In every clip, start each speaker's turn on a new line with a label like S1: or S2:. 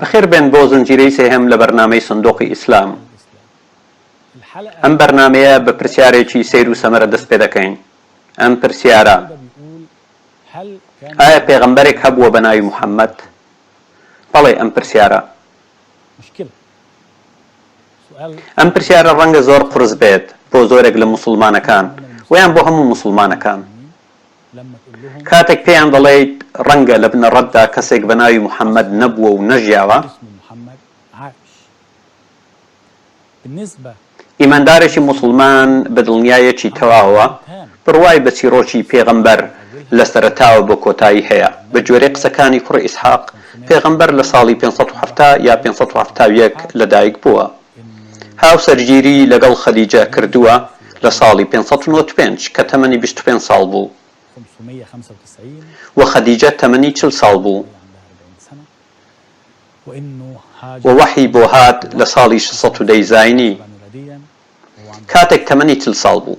S1: بەخێربێن بۆ
S2: زنجیرەی سێهەم لە بەرنامەی سندوقی ئیسلام. ئەم بەرنامەیە بە پرسیارێکی سەیر و سەمەرە دەست پێ دەکەین، ئەم پرسیارە، ئایا پێغەمبەرێک هەبووە بە ناوی محەمەد؟ بەڵێ ئەم پرسیارە. ئەم پرسیارە ڕەنگە زۆر قورس بێت بۆ زۆرێک لە موسوڵمانەکان وەیان بۆ هەموو موسوڵمانەکان. کاتێک پێیان دەڵێیت ڕەنگە لە بنەڕەتدا کەسێک بە ناوی محەممەد نەبووە و نەژیاوە، ئیماندارێکی موسڵمان بە دڵنیایەکی تەواوە بڕوای بە چیڕۆکی پێغەمبەر لە سەرەتاوە بۆ کۆتایی هەیە، بە گوێرەی قسەکانی کوڕی ئیسحاق، پێغەمبەر لە ساڵی پێنج سەد و حەفتا یا پێنج سەد و حەفتا و یەک لەدایک بووە. هاوسەرگیری لەگەڵ خەدیجە کردووە لە ساڵی پێنج سەد و نەوەد و پێنج کە تەمەنی بیست و پێنج ساڵ بوو و خەدیجە تەمەنی چل ساڵ بوو و وەحی بۆ هات لە ساڵی شەش سەد و دە زاینی کاتێک تەمەنی چل ساڵ بوو.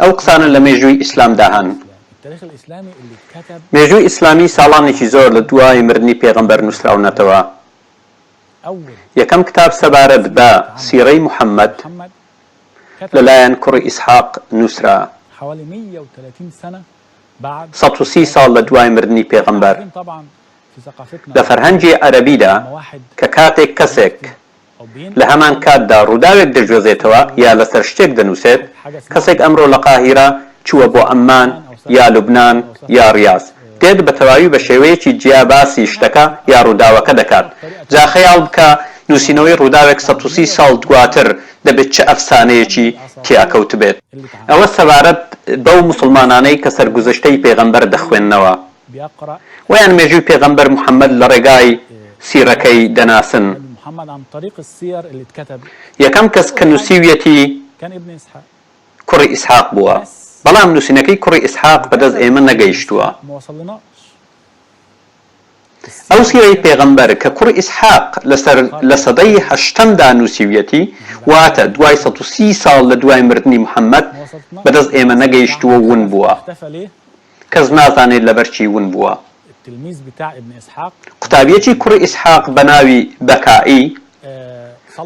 S2: ئەو قسانە لە مێژووی ئیسلامدا هەن. مێژووی ئیسلامی ساڵانێکی زۆر لە دوای مردنی پێغەمبەر نووسراونەتەوە. یەکەم کتاب سەبارەت بە سیرەی محەممەد لە لایەن کوڕی ئیسحاق نووسرا سەد و سی ساڵ لە دوای مردنی پێغەمبەر. لە فەرهەنگی عەرەبیدا کە کاتێک کەسێک لە هەمان کاتدا ڕووداوێک دەگوێزێتەوە یا لەسەر شتێک دەنووسێت، کەسێک ئەمڕۆ لە قاهیرە چووە بۆ عەممان یا لوبنان یا ڕیاز، دێت بە تەواوی بە شێوەیەکی جیا باسی شتەکە یا ڕووداوەکە دەکات. جا خەیاڵ بکە نووسینەوەی ڕووداوێک سەد و سی ساڵ دواتر دەبێت چ ئەفسانەیەکی تیا کەوتبێت. ئەوە سەبارەت بەو موسڵمانانەی کە سەرگوزشتەی پێغەمبەر دەخوێننەوە. وەیان مێژووی پێغەمبەر محەمەد لە ڕێگای سیڕەکەی دەناسن. یەکەم کەس کە نووسیویەتی کوڕی ئیسحاق بووە، بەڵام نووسینەکەی کوڕی ئیسحاق بەدەست ئێمە نەگەیشتووە. ئەو سیرەی پێغەمبەر کە کوڕی ئیسحاق لەسەر لە سەدەی هەشتەمدا نووسیویەتی، واتە دوای سەد و سی ساڵ لە دوای مردنی محەمەد، بەدەست ئێمە نەگەیشتووە و ون بووە. کەس نازانێت لەبەر چی ون بووە. التلميذ بتاع ابن اسحاق قوتابیەکی کوڕی ئیسحاق بە ناوی بەکائی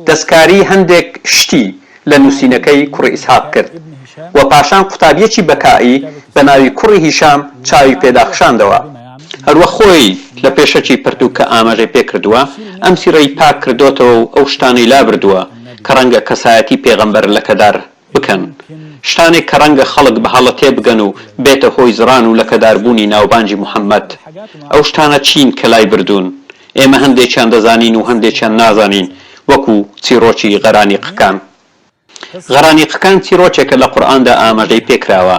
S2: دەستکاری هەندێک شتی لە نووسینەکەی کوڕی ئیسحاق کرد و پاشان قوتابیەکی بەکائی بە ناوی کوڕی هیشام چاوی پێدا خشاندەوە. هەروەک خۆی لە پێشەکی پەرتووکە ئاماژەی پێ کردووە، ئەم سیڕەی پاک کردۆتەوە و ئەو شتانەی لابردووە کە ڕەنگە کەسایەتی پێغەمبەر لەکەدار بکەن، شتانێک کە ڕەنگە خەڵک بە هەڵە تێبگەن و بێتە هۆی زڕان و لەکەداربوونی ناوبانگی محەمەد. ئەو شتانە چین کە لای بردوون؟ ئێمە هەندێکیان دەزانین و هەندێکیان نازانین، وەکو چیڕۆکی غەرانیقەکان. غەرانیقەکان چیڕۆکێکە لە قورئاندا ئاماژەی پێکراوە.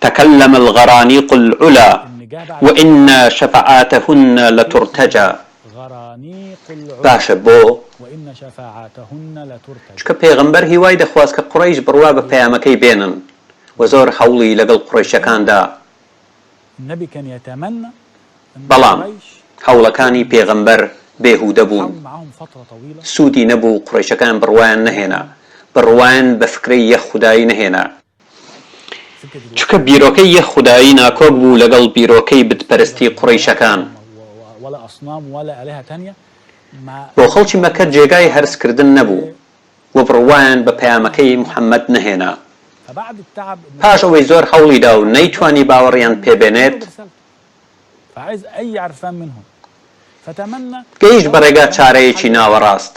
S2: تکلم الغرانیق العلی و ان شفعاتهن لترتجی باشە بۆ؟ چونکە پێغەمبەر هیوای دەخواست کە قوڕەیش بڕوا بە پەیامەکەی بێنن و زۆر هەوڵی لەگەڵ قوڕەیشەکان دا بەڵام هەوڵەکانی پێغەمبەر بێهودە بوون سوودی نەبوو قوڕەیشەکان بڕوایان نەهێنا بڕوایان بە فکرەی یەک خودایی نەهێنا چونکە بیرۆکەی یەک خودایی ناکۆک بوو لەگەڵ بیرۆکەی بتپەرستی قوڕەیشەکان. بۆ خەڵکی مەککە جێگای هەرسکردن نەبوو و بڕوایان بە پەیامەکەی موحەممەد نەهێنا. پاش ئەوەی زۆر هەوڵی دا و نەیتوانی باوەڕیان پێ بێنێت، گەیشت بە ڕێگا چارەیەکی ناوەڕاست.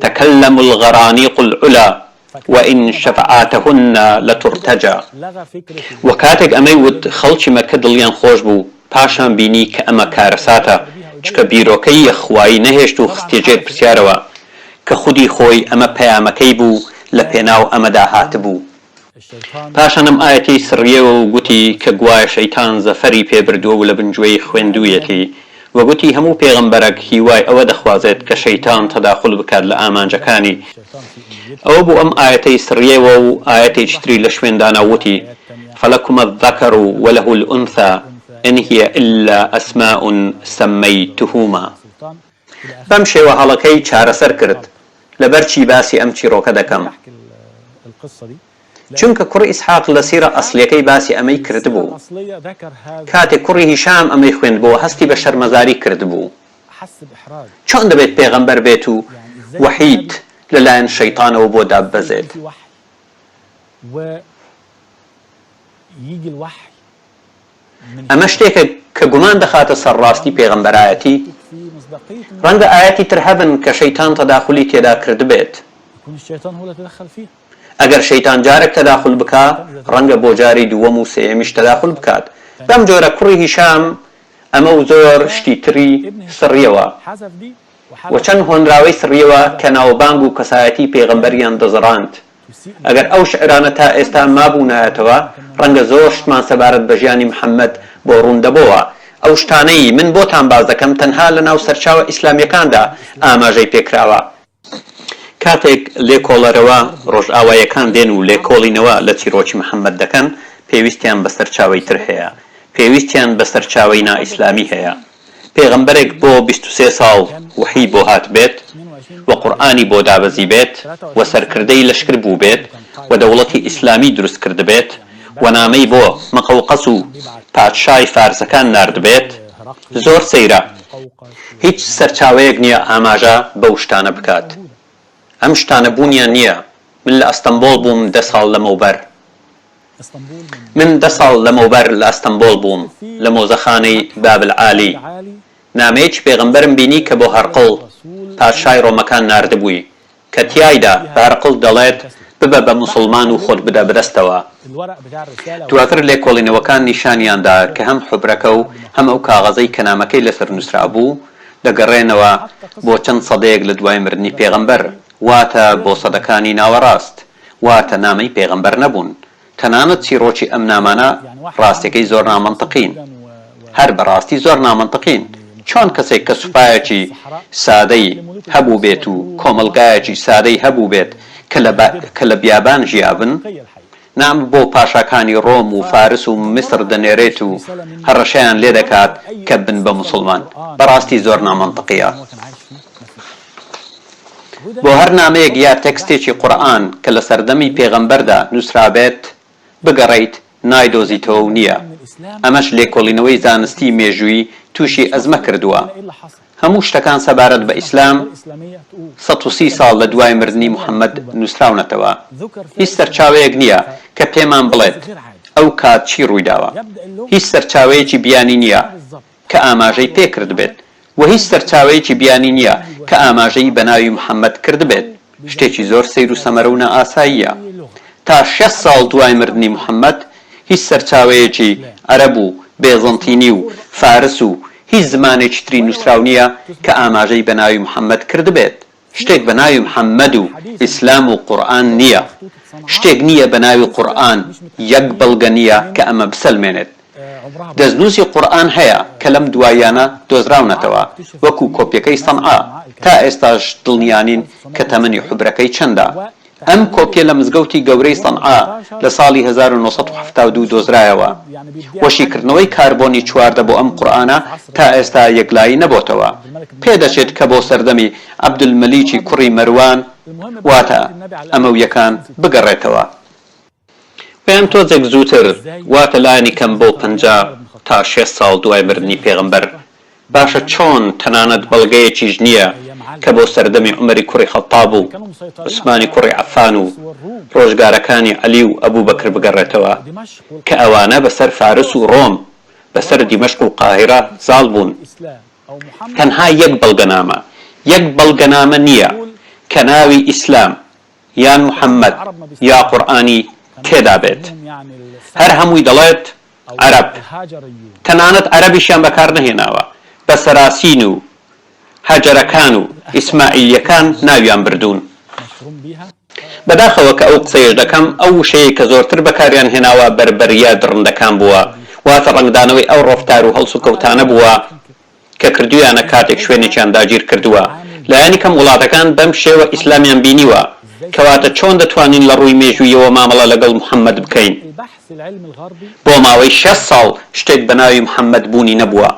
S2: تکلم الغرانیق العلی و ان شفعاتهن لترتجی وە کاتێک ئەمەی وت خەڵکی مەککە دڵیان خۆش بوو پاشان بینی کە ئەمە کارەساتە چکە بیرۆکەی یە خوایی نەهێشت و خستیە ژێر پرسیارەوە کە خودی خۆی ئەمە پەیامەکەی بوو لە پێناو ئەمەدا هاتبوو پاشان ئەم ئایەتەی سڕییەوە و گوتی کە گوایە شەیتان زەفەری پێ بردووە و لە بن گوێی خوێندوویەتی و گوتی هەموو پێغەمبەرەک هیوای ئەوە دەخوازێت کە شەیتان تەداخول بکات لە ئامانجەکانی ئەوە بوو ئەم ئایەتەی سڕییەوە و ئایەتێکی تری لە شوێن دانا و وتی فلکم الذکر و له الانثی ان هی الا اسماء سمیتهما بەم شێوە هەڵەکەی چارەسەر کرد. لەبەر چی باسی ئەم چیڕۆکە دەکەم؟ چونکە کوڕی ئیسحاق لە سیرە ئەسڵیەکەی باسی ئەمەی کردبوو. کاتێک کوڕی هیشام ئەمەی خوێندبۆوە هەستی بە شەرمەزاری کردبوو. چۆن دەبێت پێغەمبەر بێت و وەحیت لە لایەن شەیتانەوە بۆ داببەزێت؟ ئەمە شتێکە کە گومان دەخاتە سەر ڕاستی پێغەمبەرایەتی، ڕەنگە ئایەتی تر هەبن کە شەیتان تەداخولی تێدا کردبێت، ئەگەر شەیتان جارێک تەداخول بکا ڕەنگە بۆ جاری دووەم و سێیەمیش تەداخول بکات، بەم جۆرە کوڕی هیشام ئەمە و زۆر شتی تری سڕیەوە و چەند هۆنراوەی سڕیەوە کە ناوبانگ و کەسایەتی پێغەمبەریان دەزڕاند. ئەگەر ئەو شیعرانە تا ئێستا مابوونایەتەوە، ڕەنگە زۆر شتمان سەبارەت بە ژیانی محەممەد بۆ ڕوون دەبۆوە. ئەو شتانەی من بۆتان باس دەکەم تەنها لە ناو سەرچاوە ئیسلامییەکاندا ئاماژەی پێ کراوە. کاتێک لێکۆڵەرەوە ڕۆژئاواییەکان دێن و لێکۆڵینەوە لە چیڕۆکی محەممەد دەکەن، پێویستیان بە سەرچاوەی تر هەیە. پێویستیان بە سەرچاوەی نائیسلامی هەیە. پێغەمبەرێک بۆ بیست و سێ ساڵ وەحی بۆ هاتبێت و قورئانی بۆ دابەزیبێت و سەرکردەی لەشکر بووبێت و دەوڵەتی ئیسلامی دروست کردبێت و نامەی بۆ مقوقس و پادشای فارسەکان ناردبێت زۆر سەیرە هیچ سەرچاوەیەک نیە ئاماژە بەو شتانە بکات ئەم شتانە بوونیان نیە من لە ئەستەمبۆڵ بووم دە ساڵ لەمەوبەر. من دە ساڵ لەمەوبەر لە ئەستەنبۆڵ بووم لە مۆزەخانەی بابل عالی نامەیەکی پێغەمبەرم بینی کە بۆ هەرقڵ پادشای ڕۆمەکان ناردبووی کە تیایدا بە هەرقڵ دەڵێت ببە بە موسڵمان و خۆت بدە بەدەستەوە دواتر لێکۆڵینەوەکان نیشانیان دا کە هەم حوبرەکە و هەم ئەو کاغەزەی کە نامەکەی لەسەر نووسرابوو دەگەڕێنەوە بۆ چەند سەدەیەک لە دوای مردنی پێغەمبەر واتە بۆ سەدەکانی ناوەڕاست. واتە نامەی پێغەمبەر نەبوون، تەنانەت چیڕۆکی ئەم نامانە ڕاستەکەی زۆر نامەنتقین، هەر بەڕاستی زۆر نامەنتقین، چۆن کەسێک کە سوپایەکی سادەی هەبووبێت و کۆمەڵگایەکی سادەی هەبووبێت کە لە بیابان ژیابن، نامە بۆ پاشاکانی ڕۆم و فارس و میسر دەنێرێت و هەڕەشەیان لێدەکات کە بن بە موسڵمان، بەڕاستی زۆر نامەنتقییە. بۆ هەر نامەیەک یا تێکستێکی قورئان کە لە سەردەمی پێغەمبەردا نووسرابێت بگەڕێیت نایدۆزیتەوە و نییە. ئەمەش لێکۆڵینەوەی زانستیی مێژووی تووشی ئەزمە کردووە. هەموو شتەکان سەبارەت بە ئیسلام سەد و سی ساڵ لە دوای مردنی محەممەد نووسراونەتەوە. هیچ سەرچاوەیەک نییە کە پێمان بڵێت ئەو کات چی ڕووی داوە. هیچ سەرچاوەیەکی بیانی نییە. کە ئاماژەی پێ کردبێت وە هیچ سەرچاوەیەکی بیانی نیە کە ئاماژەیی بە ناوی محمد کردبێت شتێکی زۆر سەیر و سەمەرە و نا ئاساییە تا شەست ساڵ دوای مردنی محمد هیچ سەرچاوەیەکی عەرەب و بێزەنتینی و فارس و هیچ زمانێکی تری نوسراو نیە کە ئاماژەی بە ناوی محمد کردبێت شتێک بە ناوی محمد و ئیسلام و قورئان نییە، شتێک نییە بە ناوی قورئان، یەک بەڵگە نییە کە ئەمە بسەلمێنێت. دەستنووسی قورئان هەیە کە لەم دواییانە دۆزراونەتەوە، وەکو کۆپیەکەی سەنعا، تا ئێستاش دڵنیا نین کە تەمەنی حوبرەکەی چەندە، ئەم کۆپیە لە مزگەوتی گەورەی سەنعا لە ساڵی هەزار و نۆ سەد و حەفتا و دوو دۆزرایەوە و شیکردنەوەی کاربۆنی چواردە بۆ ئەم قورئانە تا ئێستا یەکلایی نەبۆتەوە پێدەچێت کە بۆ سەردەمی عبدالملیکی کوڕی مەروان واتە ئەمەویەکان بگەڕێتەوە. یان تۆزێک زووتر، واتە لانی کەم بۆ پەنجا تا شێست ساڵ دوای مردنی پێغەمبەر، باشە چۆن تەنانەت بەڵگەیەکیش نییە کە بۆ سەردەمی عومەری کوڕی خەتتاب و عوسمانی کوڕی عەفان و ڕۆژگارەکانی عەلی و ئەبوبەکر بگەڕێتەوە کە ئەوانە بەسەر فارس و ڕۆم بەسەر دیمەشق و قاهیرە زاڵ بوون؟ تەنها یەک بەڵگەنامە، یەک بەڵگەنامە نییە کە ناوی ئیسلام یان محمد یا قورئانی تێدا بێت هەر هەمووی دەڵێت عەرەب تەنانەت عەرەبیشیان بەکار نەهێناوە بە سەراسین و هەجەرەکان و ئیسماعیلیەکان ناویان بردوون بەداخەوە کە ئەو قسەیەش دەکەم ئەو وشەیەی کە زۆرتر بەکاریان هێناوە بەربەریە دڕندەکان بووە واتە ڕەنگدانەوەی ئەو ڕەفتار و هەڵسوکەوتانە بووە کە کردویانە کاتێک شوێنێکیان داگیر کردوە لانی کەم وڵاتەکان بەم شێوە ئیسلامیان بینیوە کەواتە چۆن دەتوانین لە ڕووی مێژوویەوە مامەڵە لەگەڵ محمد بکەین بۆ ماوەی شەست ساڵ شتێک بەناوی محمد بوونی نەبووە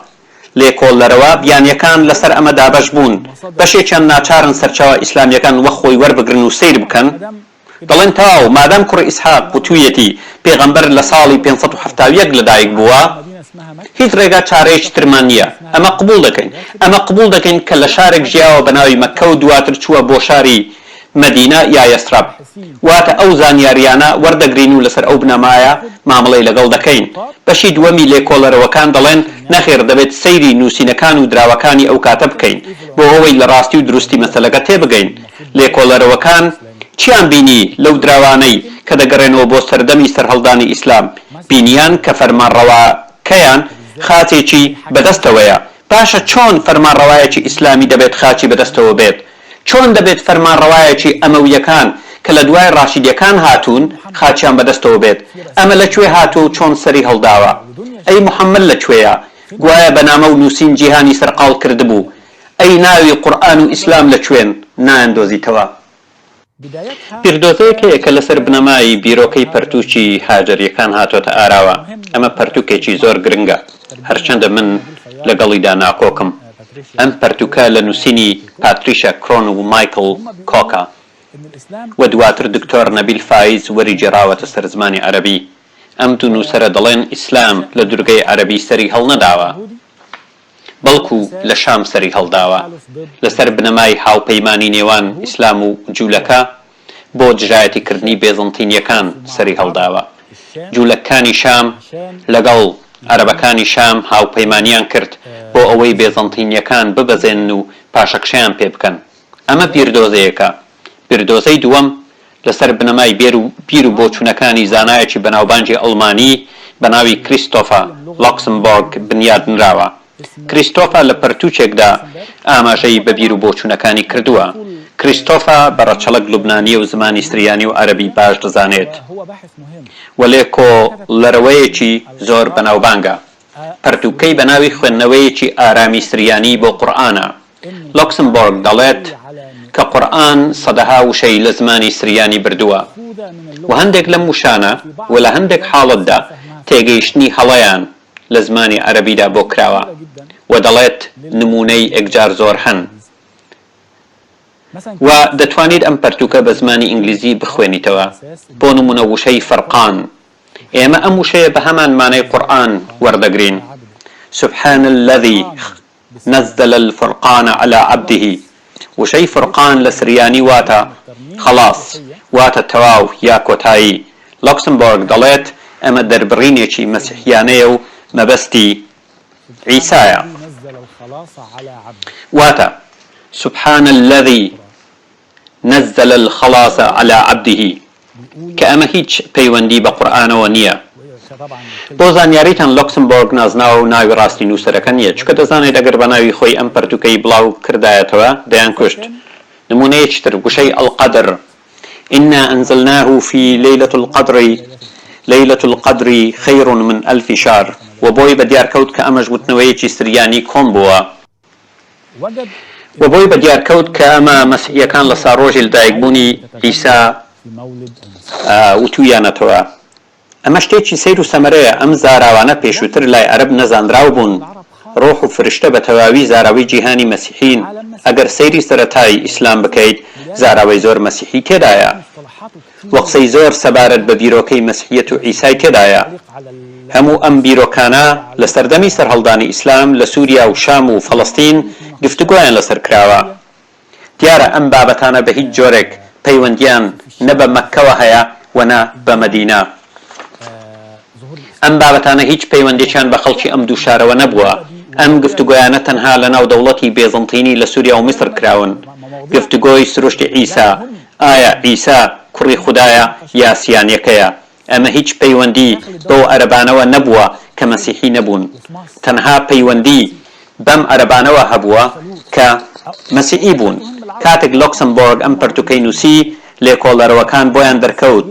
S2: لێکۆڵەرەوە بیانیەکان لەسەر ئەمە دابەش بوون بەشێکیان ناچارن سەرچاوە ئیسلامیەکان وەک خۆی وەربگرن و سەیر بکەن دەڵێن تاو، مادام کوڕی ئیسحاق وتوویەتی پێغەمبەر لە ساڵی پێنج سەد و حەفتا و یەک لەدایک بووە، هیچ ڕێگا چارەیەکی ترمان نییە، ئەمە قبووڵ دەکەین، ئەمە قبووڵ دەکەین کە لە شارێک ژیاوە بە ناوی مەککە و دواتر چووە بۆ شاری، مەدینە، یا یەسرەب، واتە ئەو زانیارییانە وەردەگرین و لەسەر ئەو بنەمایە مامەڵەی لەگەڵ دەکەین. بەشی دووەمی لێکۆڵەرەوەکان دەڵێن نەخێر دەبێت سەیری نووسینەکان و دراوەکانی ئەو کاتە بکەین بۆ ئەوەی لە ڕاستی و دروستی مەسەلەکە تێبگەین، لێکۆڵەرەوەکان چیان بینی لەو دراوانەی کە دەگەڕێنەوە بۆ سەردەمی سەرهەڵدانی ئیسلام؟ بینیان کە فەرمانڕەواکەیان خاچێکی بەدەستەوەیە. باشە چۆن فەرمانڕەوایەکی ئیسلامی دەبێت خاچی بەدەستەوە بێت؟ چۆن دەبێت فەرمانڕەوایەکی ئەمەوییەکان کە لە دوای ڕاشیدییەکان هاتوون خاچیان بەدەستەوە بێت؟ ئەمە لە کوێ هاتووە و چۆن سەری هەڵداوە؟ ئەی محەممەد لە کوێیە؟ گوایە بە نامە و نووسین جیهانی سەرقاڵ کردبوو، ئەی ناوی قورئان و ئیسلام لە کوێن نایان دۆزیتەوە؟ بیردۆزەیەکەیە کە لەسەر بنەمای بیرۆکەی پەرتووکی هاجەرییەکان هاتۆتە ئاراوە، ئەمە پەرتووکێکی زۆر گرنگە، هەرچەندە من لەگەڵیدا ناکۆکم. ئەم پەرتووکە لە نووسینی پاتریشا کرۆن و مایکڵ کۆکە و دواتر دکتۆر نەبیل فایز وەری گێڕاوەتە سەر زمانی عەرەبی. ئەم دوو نووسەرە دەڵێن ئیسلام لە دورگەی عەرەبی سەری هەڵنەداوە. بەڵکو لە شام سەری هەڵداوە، لەسەر بنەمای هاوپەیمانی نێوان ئیسلام و جولەکە بۆ دژایەتیکردنی بێزەنتینیەکان سەری هەڵداوە. جولەککانی شام لەگەڵ عەرەبەکانی شام هاوپەیمانیان کرد بۆ ئەوەی بێزەنتینیەکان ببەزێنن و پاشەکشەیان پێبکەن. ئەمە بیردۆزەیەکە بیردۆزەی دووەم لەسەر بنەمای بێر و بیر و بۆچوونەکانی زانایەکی بەناوبانگی ئەڵمانی بە ناوی کریستۆفە لۆکسمبۆرگ بنیات نراوە. کریستۆفە لە پەرتووکێکدا ئاماژەی بە بیر و بۆچوونەکانی کردووە. کریستۆفە بە ڕەچەڵەک لوبنانییە و زمانی سریانی و عەرەبی باش دەزانێت و لێکۆڵەرەوەیەکی زۆر بەناوبانگە. پەرتووکەی بە ناوی خوێندنەوەیەکی ئارامی سریانی بۆ قورئانە لۆکسمبۆرگ دەڵێت کە قورئان سەدەها وشەی لە زمانی سریانی بردووە و هەندێک لەم وشانە و لە هەندێک حاڵەتدا تێگەیشتنی هەڵەیان لە زمانی عەرەبیدا بۆ کراوە و دەڵێت نموونەی ئێکجار زۆر هەن و دەتوانیت ئەم پەرتووکە بە زمانی ئینگلیزی بخوێنیتەوە بۆ نموونە وشەی فەرقان ئێمە ئەم وشەیە بە هەمان مانای قورئان وەردەگرین، سبحان الذی نزل الفرقان علی عبده، وشەی فرقان لە سریانی واتە خەڵاس واتە تەواو یا کۆتایی، لۆکسمبۆرگ دەڵێت ئەمە دەربڕینێکی مەسیحیانەیە و مەبەستی عیسایە، واتە، سبحان الذی، نزل الخلاص علی عبده کە ئەمە هیچ پەیوەندی بە قورئانەوە نیە بۆ زانیاریتان لۆکسمبۆرگ نازناوەو ناوی ڕاستی نوسەرەکە نیە چونکە دەزانێت ئەگەر بەناوی خۆی ئەم پەرتوکەی بڵاو کردایەتەوە دەیان کوشت نمونەیەکی تر وشەی القدر انا انزلناه فی لیلە القدر لیلە القدر خیر من الف شهر و بۆی بەدیار کەوت کە ئەمەش وتنەوەیەکی سریانی کۆن بووە. و بۆی بە دیار کەوت کە ئەمە مەسیحییەکان لە ساڕۆژی لەدایکبوونی عیسا وتوویانەتەوە. ئەمە شتێکی سەیر و سەمەرەیە، ئەم زاراوانە پێشووتر لای عەرەب نەزانراو بوون، ڕۆح و فرشتە بە تەواوی زاراوەی جیهانی مەسیحین، ئەگەر سەیری سەرەتای ئیسلام بکەیت زاراوەی زۆر مەسیحی تێدایە. وقسەی زۆر سەبارەت بە بیرۆکەی مەسحیەت و عیسای تێدایە. هەموو ئەم بیرۆکانە لە سەردەمی سەرهەڵدانی ئیسلام لە سوریا و شام و فەڵەستین گفتوگۆیان لەسەر کراوە. دیارە ئەم بابەتانە بە هیچ جۆرێک پەیوەندییان نە بە مەککەوە هەیە و نە بە مەدینە. ئەم بابەتانە هیچ پەیوەندێکیان بە خەڵکی ئەم دوو شارەوە نەبووە، ئەم گفتوگۆیانە تەنها لە ناو دەوڵەتی بێزنتینی لە سوریا و میسر کراون. گفتوگۆی سروشتی عیسا، ئایا عیسا کوڕی خودایە یا سیانەکەیە، ئەمە هیچ پەیوەندی بەو عەرەبانەوە نەبووە کە مەسیحی نەبوون، تەنها پەیوەندی بەم عەرەبانەوە هەبووە کە مەسیحی بوون. کاتێک لۆکسەمبۆرگ ئەم پەرتوکەی نووسی، لێکۆڵەرەوەکان بۆیان دەرکەوت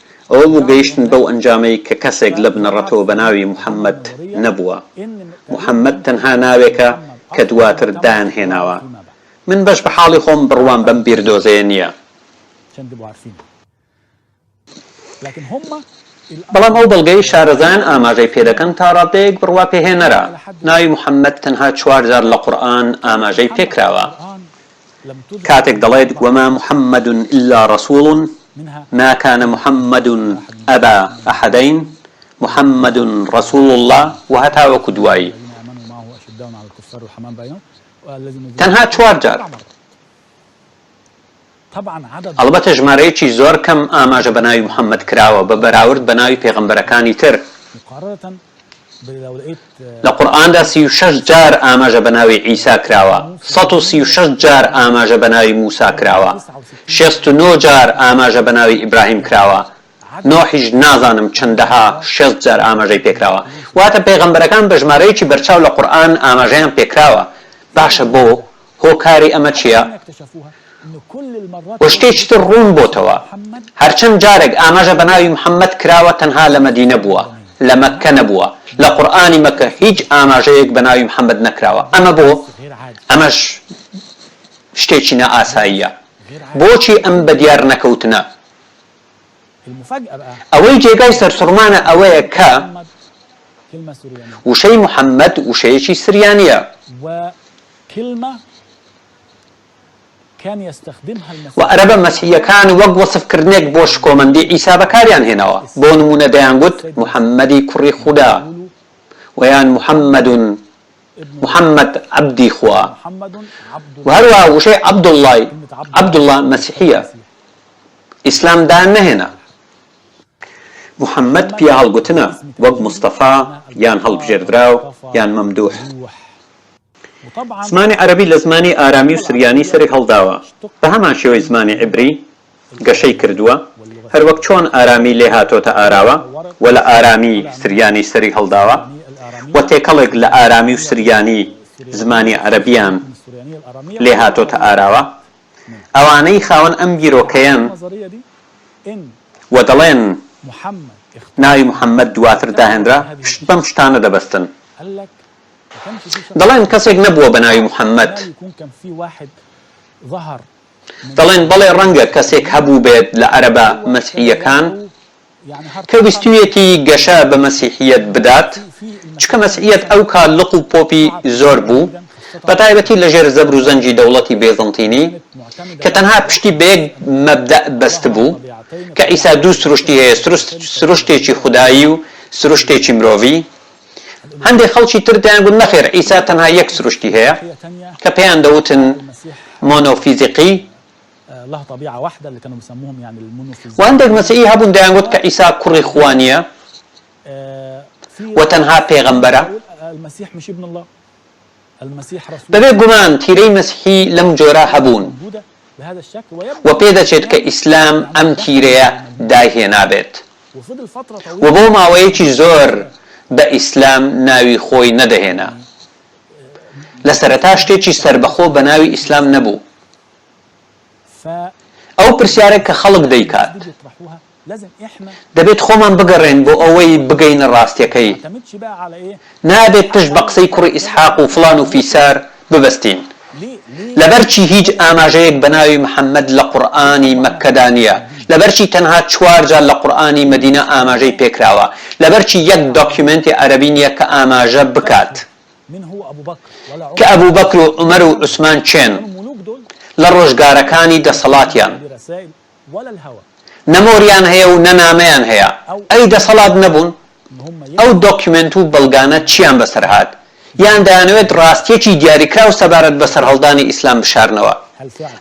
S2: ئەوە بوو گەیشتن بەو ئەنجامەی کە کەسێک لە بنەڕەتەوە بە ناوی محەممەد نەبووە. محەممەد تەنها ناوێکە کە دواتر دایانهێناوە. من بەش بە حاڵی خۆم بڕوام بەم بیردۆزەیە نییە. بەڵام ئەو بەڵگەی شارەزایان ئاماژەی پێ دەکەن تا ڕاددەیەک بڕوا پێهێنەرە. ناوی محەممەد تەنها چوار جار لە قورئان ئاماژەی پێ کراوە. کاتێک دەڵێت، وما محمد الا رسول ما کان محمد ابا احدین محمد رسول اللە و هەتاوەکو دوایی، تەنها چوار جار، ئەڵبەتە ژمارەیەکی زۆر کەم ئاماژە بە ناوی محمد کراوە بە بەراورد بە ناوی پێغەمبەرەکانی تر، لە قورئاندا سی و شەش جار ئاماژە بە ناوی عیسا کراوە، سەد و سی و شەش جار ئاماژە بە ناوی موسا کراوە، شێست و نۆ جار ئاماژە بە ناوی ئیبراهیم کراوە، نوحیش نازانم چەندەها شێست جار ئاماژەی پێکراوە. واتە پێغەمبەرەکان بە ژمارەیەکی بەرچاو لە قورئان ئاماژەیان پێکراوە. باشە بۆ؟ هۆکاری ئەمە چیە؟ و شتێکی تر ڕوون بۆتەوە هەرچەند جارێک ئاماژە بە ناوی محمد کراوە تەنها لە مەدینە بووە لە مەککە نەبووە، لە قورئانی مەککە هیچ ئاماژەیەک بە ناوی محمد نەکراوە ئەمە بۆ؟ ئەمەش شتێکی نا ئاساییە بۆچی ئەم بە دیار نەکەوتنە؟ ئەوەی جێگای سەرسوڕمانە ئەوەیە کە وشەی محمد وشەیەکی سریانیە. کلمە کان یستخدمها المسیحیون. وە عەرەبە مەسیحییەکان وەک وەسفکردنێک بۆ شکۆمەندی عیسا بەکاریان هێناوە، بۆ نموونە دەیانگوت محەممەدی کوڕی خودا، وە یان محمد محمد عەبدی خوا. وە هەروەها وشەی عەبدوڵڵای، عەبدوڵڵا، مەسیحییە ئیسلام دایان نەهێنا. محمد پیاهەڵگوتنە، وەک مستەفا، یان هەڵبژێردراو، یان مەمدووح. زمانی عەرەبی لە زمانی ئارامی و سریانی سەری هەڵداوە، بە هەمان شێوەی زمانی عیبری گەشەی کردووە، هەروەک چۆن ئارامی لێ هاتۆتە ئاراوە و لە ئارامی سریانی سەری هەڵداوە و تێکەڵێک لە ئارامی و سریانی زمانی عەرەبییان لێ هاتۆتە ئاراوە. ئەوانەی خاوەن ئەم بیرۆکەیەن و دەڵێن ناوی محەممەد دواتر داهێنرا، پشت بەم شتانە دەبەستن. دەڵێن کەسێک نەبووە بە ناوی محەمەد. دەڵێن بەڵێ ڕەنگە کەسێک هەبووبێت لە عەرەبە مەسیحییەکان کە ویستویەتی گەشە بە مەسیحییەت بدات چکە مەسیحییەت ئەو کات لق و پۆپی زۆر بوو بە تایبەتی لە ژێر زەبر و زەنگی دەوڵەتی بێزنتینی کە تەنها پشتی بە یەک مەبدەئ بەست بوو کە عیسا دوو سروشتی هەیە سروشتێکی خودایی و سروشتێکی مرۆڤی هەندێک خەڵکی تر دەیانگوت نەخێر عیسا تەنها یەک سروشتی هەیە کە پێیان دەوتن مۆنۆفیزیقی، وە هەندێک مەسیحی هەبوون دەیانگوت کە عیسا کوڕی خوا نییە و تەنها پێغەمبەرە. بەبێ گومان تیرەی مەسیحی لەم جۆرە هەبوون و پێدەچێت کە ئیسلام ئەم تیرەیە دایهێنابێت و بۆ ماوەیەکی زۆر بە ئیسلام ناوی خۆی نەدەهێنا. لە سەرەتا شتێکی سەربەخۆ بە ناوی ئیسلام نەبوو. ئەو پرسیارە کە خەڵک دەیکات. دەبێت خۆمان بگەڕێن بۆ ئەوەی بگەینە ڕاستیەکەی، نابێت پشت بە قسەی کوڕی ئیسحاق و فڵان و فیسار ببەستین، لەبەرچی هیچ ئاماژەیەک بە ناوی محمد لە قورئانی مەککەدا نیە، لەبەرچی تەنها چوار جار لە قورئانی مەدینە ئاماژەی پێکراوە، لەبەرچی یەک دۆکیومێنتی عەرەبی نیە کە ئاماژە بکات کە ئەبو بەکر و عومەر و عوسمان کێن لە ڕۆژگارەکانی دەسەڵاتیان. نە مۆریان هەیە و نە نامەیان هەیە، ئەی دەسەڵات نەبوون؟ ئەو دۆکیومێنت و بەڵگانە چییان بەسەر هات؟ یان دەیانەوێت ڕاستییەکی دیاریکراو سەبارەت بە سەرهەڵدانی ئیسلام بشارنەوە؟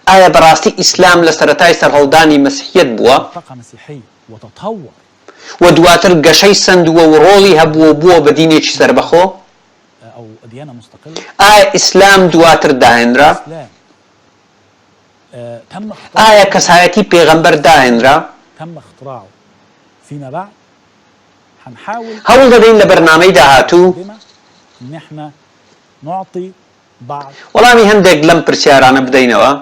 S2: ئایا بەڕاستی ئیسلام لە سەرەتای سەرهەڵدانی مەسیحیەت بووە و دواتر گەشەی سەندووە و ڕۆڵی هەبووە و بووە بە دینێکی سەربەخۆ؟ ئایا ئیسلام دواتر داهێنرا؟ ئایا کەسایەتی پێغەمبەر داهێنرا؟ هەوڵ دەدەین لە بەرنامەی داهاتوو وەڵامی هەندێک لەم پرسیارانە بدەینەوە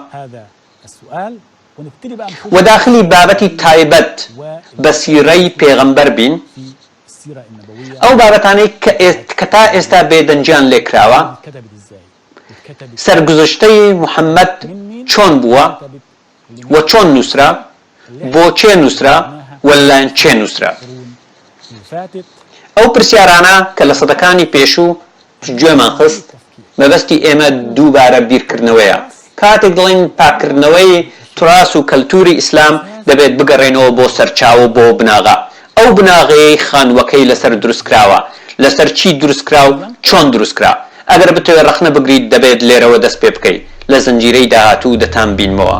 S2: و داخلی بابەتی تایبەت بە سیرەی پێغەمبەر بین، ئەو بابەتانەی کە تا ئێستا بێدەنگیان لێکراوە. سەرگوزشتەی محەمەد چۆن بووە و چۆن نووسرا، بۆ کێ نووسرا و لەلایەن کێ نووسرا؟ ئەو پرسیارانە کە لە سەدەکانی پێشوو گوێمان خست، مەبەستی ئێمە دووبارە بیرکردنەوەیە. کاتێک دەڵێین پاککردنەوەی تراس و کەلتووری ئیسلام، دەبێت بگەڕێینەوە بۆ سەرچاوە و بۆ بناغە. ئەو بناغەیەی خانووەکەی لەسەر دروستکراوە لەسەر چی دروستکرا و چۆن دروستکرا؟ ئەگەر بتەوێت ڕەخنە بگریت دەبێت لێرەوە دەست پێ بکەی لە زنجیرەی داهاتوو دەتانبینمەوە.